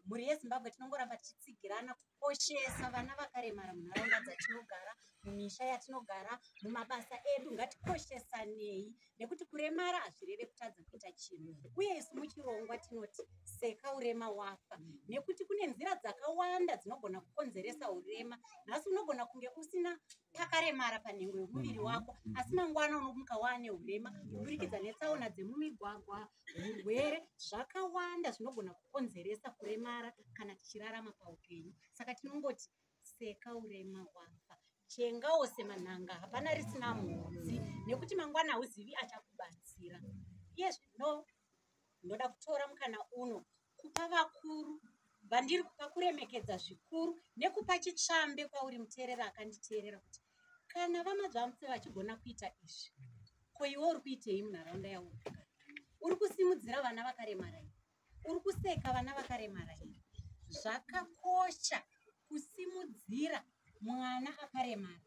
mhuri yezimbabwe tinongoramba tichitsigirana kukoshesa vana vakaremara munharaunda dzatinogara mumisha yatinogara mumabasa edu ngatikoshesanei nekuti kuremara hazvireve kutadza kuita chinhu uye isu muchirongwa tinoti seka urema wafa nekuti kune nzira dzakawanda dzinogona kukonzeresa urema nhasi unogona kunge usina pakaremara panhengo yomuviri wako asi mangwana unomuka waane urema kuburikidza netsaona dzemumigwagwa hurwere zvakawanda zvinogona kukonzeresa kuremara kana tichirarama paupenyu saka tinongoti seka urema wafa chengawo semanhanga hapana risina mhodzi nekuti mangwana hauzivi achakubatsira iye zvino ndoda kutora mukana uno kupa vakuru vandiri kupa kuremekedza zvikuru nekupa chitsvambe kwauri muteerera akanditeerera kuti kana vamadzvamutse vachigona kuita izvi ko iwe uri kuitei munharaunda yaunogara uri kusimudzira vana vakaremara ii uri kuseka vana vakaremara ii zvakakosha kusimudzira mwana akaremara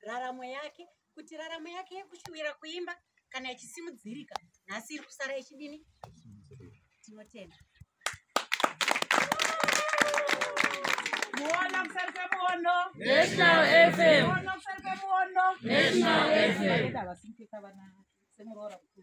raramo yake kuti raramo yake yekushuvira kuimba kana ichisimudzirika nhasi iri kusara ichidini tinotenda muono kusari kwemuono national fm muono kusari kwemuono national fm semuroora kuti